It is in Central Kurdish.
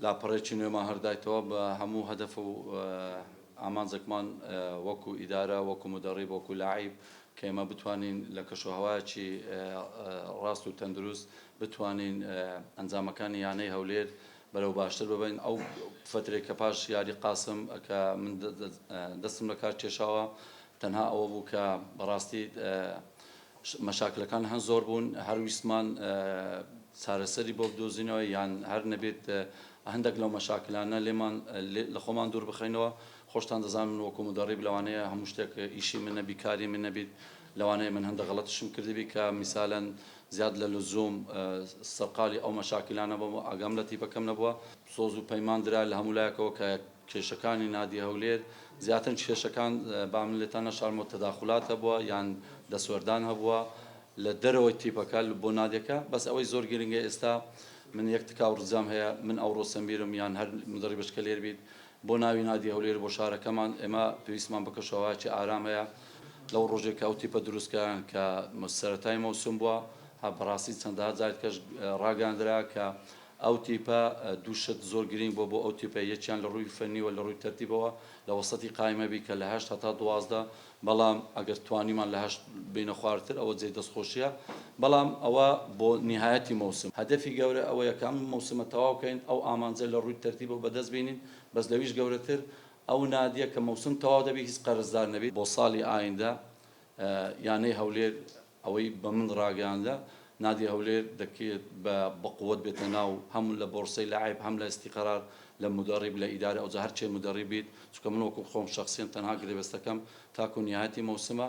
لاپەڕەیەکی نوێمان هەردایتەوە بە هەموو هەدەف و ئامانجێکمان وەکو ئیدارە، وەکو مودەڕیب، وەکو لاعیب کە ئێمە بتوانین لە کەشوهەوایەکی ڕاست و تەندروست بتوانین ئەنجامەکانی یانەی هەولێر بەرەو باشتر ببەین. ئەو فترەی کە پاش یاری قاسم کە من دەستم لە کار کێشاوە تەنها ئەوە بوو کە بەڕاستی مەشاکلەکان هەن زۆر بوون هەر ویستمان چارەسەری بۆ بدۆزینەوە یان هەر نەبێت هەندێک لەو مەشاکلانە لێمان لە خۆمان دوور بخەینەوە خۆشتان دەزان من وەکو مدەڕیب لەوانەیە هەموو شتێک ئیشی من نەبی کاری من نەبیت لەوانەیە من هەندە غەڵەتشم کردبی کە میسالەن زیاد لە لزوم سەرقالی ئەو مەشاکلانە بۆم ئاگام لە تیپەکەم نەبووە سۆز و پەیمان درا لە هەموو لایەکەوە کە کێشەکانی نادی هەولێر زیاتر کێشەکان با من لێتان نەشارمەوە تەداخولات هەبووە یان دەستوەردان هەبووە لە دەرەوەی تیپەکە بۆ نادیەکە بەس ئەوەی زۆر گرنگە ئێستا من یەک تکاو ڕجام هەیە من ئەوڕۆ سەمیرم یان هەر مدەڕی بچکە لێر بیت بۆ ناوی نادی هەولێر بۆ شارەکەمان ئێمە پێویستمان بە کەشەوەهاکی ئارام هەیە لەو ڕۆژێک کە ئەو تیپە دروستکەیان کە سەرەتای مەوسم بووە بەڕاستی چەندەها جارت کەش ڕاگەاندرا کە ئەو تیپە دوو شت زۆر گرینگ بووە بۆ ئەو تیپە، یەکیان لە رووی فەنی و لە رووی تەرتیبەوە لە وەسەتی قایمە بی کە لە هەشت هەتا دوازدە، بەڵام ئەگەر توانیمان لە هەشت بێینە خوارتر ئەوە جێی دەستخۆشیە، بەڵام ئەوە بۆ نیهایەتی مەوسم. هەدەفی گەورە ئەوەیە کە ئەم مەوسمە تەواو کەین، ئەو ئامانجە لە رووی تەرتیبەوە بەدەست بێنین، بەس لەویش گەورەتر ئەو نادیە کە مەوسم تەواو دەبی هیچ قەرزدار نەبی. بۆ ساڵی ئایندە یانەی هەولێر. ئەوەی بە من ڕاگەیاندە نادی هەولێر دەکرێت بە بەقوەت بێتە ناو هەم لە بۆڕسەی لاعیب هەم لە ئیستیقرار لە مودەڕیب لە ئیدارە ئەوجا هەرچێ مودەڕیب بیت چونکە من وەکو خۆم شەخسیەن تەنها گرێبەستەکەم تاکو نیهایەتی مەوسمە